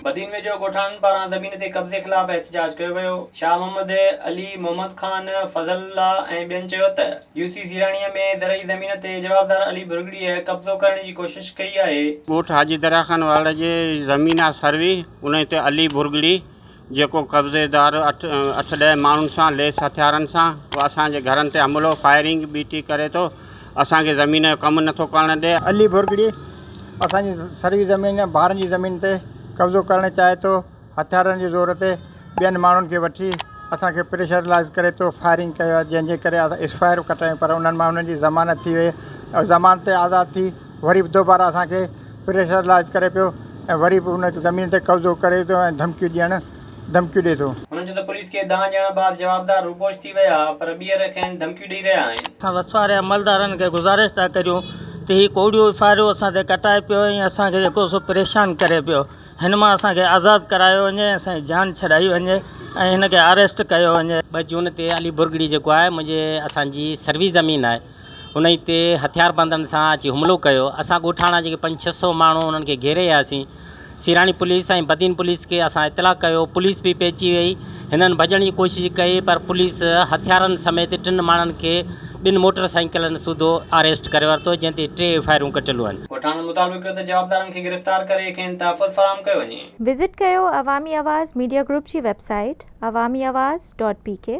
بدين ويجهو ڳوٺاڻن پاران زمين تي قبضي خلاف احتجاج ڪيو ويو، شاهه محمد، علي محمد خان، فضل الله ۽ ٻين چيو ته يو سي زيراڻيء ۾ زرعي زمين تي جوابدار علي ڀرڳڙيء قبضو ڪرڻ جي ڪوشش ڪئي آهي. ڳوٺ حاجي درياخان واڙ جي زمين آهي سروي انهي تي علي ڀرڳڙي جيڪو قبضي دار اٺ ڏهه ماڻهن سان ليس هٿيارن سان اسان جي گهرن تي حملو، فائرنگ، بي ٽي ڪري ٿو، اسان کي زمين جو ڪم نٿو ڪرڻ ڏئي. علي ڀرڳڙي اسان جي سروي زمين ۽ ٻارن جي زمين تي قبضو ڪرڻ چاهي ٿو، هٿيارن جي زور تي ٻين ماڻهن کي وٺي اسان کي پريشرلائيز ڪري ٿو، فائرنگ ڪيو جنهن جي ڪري اسان ايسفائر ڪٽايون پر انهن ماڻهن جي ضمانت ٿي وئي ۽ ضمانت تي آزاد ٿي. وري به دوباره اسان کي پريشرلائيز ڪري پيو ۽ وري به ان زمين تي قبضو ڪري ٿو ۽ ڌمڪيون ڏيڻ ڌمڪيون ڏئي ٿو. هنن چيو ته پوليس کي دانهن ڏيڻ بعد جوابدار روپوش ٿي ويا پر ٻيهر کين ڌمڪيون ڏئي رهيا آهن. اسان وسواري عملدارن کي گذارش ٿا ڪريون ته هي ڪوڙيو ڦاهريو اسان تي ڪٽائي پيو ۽ اسان کي جيڪو سو پريشان ڪري پيو هن مان اسان کي آزاد ڪرايو وڃي ۽ اسان جي جان ڇڏائي وڃي ۽ هن کي آريسٽ ڪيو وڃي. ٻه جون تي علي برگڙي جيڪو آهي منهنجي اسان جي سروي زمين آهي. انهن تي هٿياربندن سان اچي حملو ڪيو، اسان ڳوٺاڻا جيڪي پنج ڇهه سئو ماڻهو انهن کي گهيري آياسين، سيراڻي پوليس ۽ بدين پوليس کي اسان اطلاع ڪيو، پوليس به پهچي وئي، هنن ڀڄڻ جي ڪوشش ڪئي پر پوليس هٿيارن سميت ٽن ماڻهن کي ٻن موٽر سائيڪلن سوڌو آريسٽ ڪري ورتو، جنهن تي ٽي فائرون ڪٽيل هئن. ڳوٺاڻن مطالبو ڪيو ته جوابدارن کي گرفتار ڪري کين تحفظ فراهم ڪيو وڃي. وزٽ ڪيو عوامي آواز ميڊيا گروپ جي website Awami Awaz dot P ڪي.